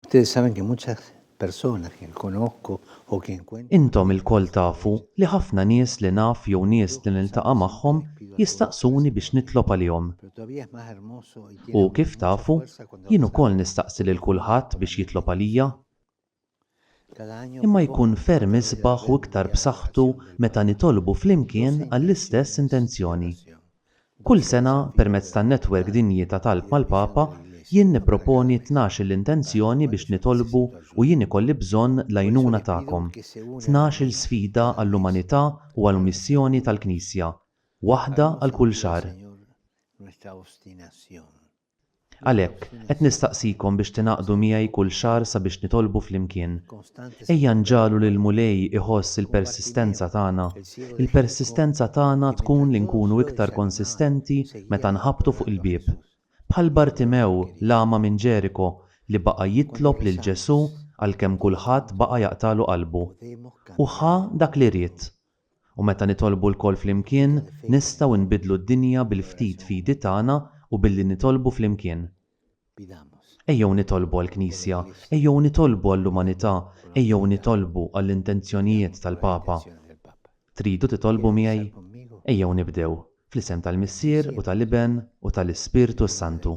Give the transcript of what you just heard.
Ustedes saben que muchas personas que conozco o que encuentro. Intom ilkoll tafu li ħafna nies li naf jew nies li niltaqa' magħhom jistaqsuni biex nitlob għalihom. U, kif tafu, jien ukoll nistaqsi lil kulħadd biex jitlob għalija. imma jkun ferm isbaħ u iktar b'saħħtu meta nitolbu flimkien għall-istess intenzjoni. Kull sena, permezz tan-Netwerk Dinji ta' Talb mal-Papa, jien nipproponi tnax-il intenzjoni biex nitolbu u jien ikolli bżonn l-għajnuna tagħkom, tnax-il sfida għall-umanità u għall-missjoni tal-Knisja, waħda għal kull xahar. Għalhekk, qed nistaqsikom biex tingħaqdu miegħi kull xahar sabiex nitolbu flimkien. Ejja nġagħlu li l-Mulej iħoss il-persistenza tagħna. Il-persistenza tagħna tkun li nkunu iktar konsistenti meta nħabbtu fuq il-bieb. Bħal Bartimew, l-agħma minn Ġeriko, li baqa' jitlob lil Ġesù għalkemm kulħadd baqa' jaqtagħlu qalbu. U ħa dak li ried. U meta nitolbu lkoll flimkien, nistgħu nbiddlu d-dinja bil-ftit fidi tagħna u billi nitolbu flimkien. Ejjew nitolbu għall-Knisja, ejjew nitolbu għall-umanità, ejjew nitolbu għall-intenzjonijiet tal-Papa. Tridu titolbu miegħi? Ejjew nibdew, fl-isem tal-Missier u tal-Iben u tal-Ispirtu s-Santu.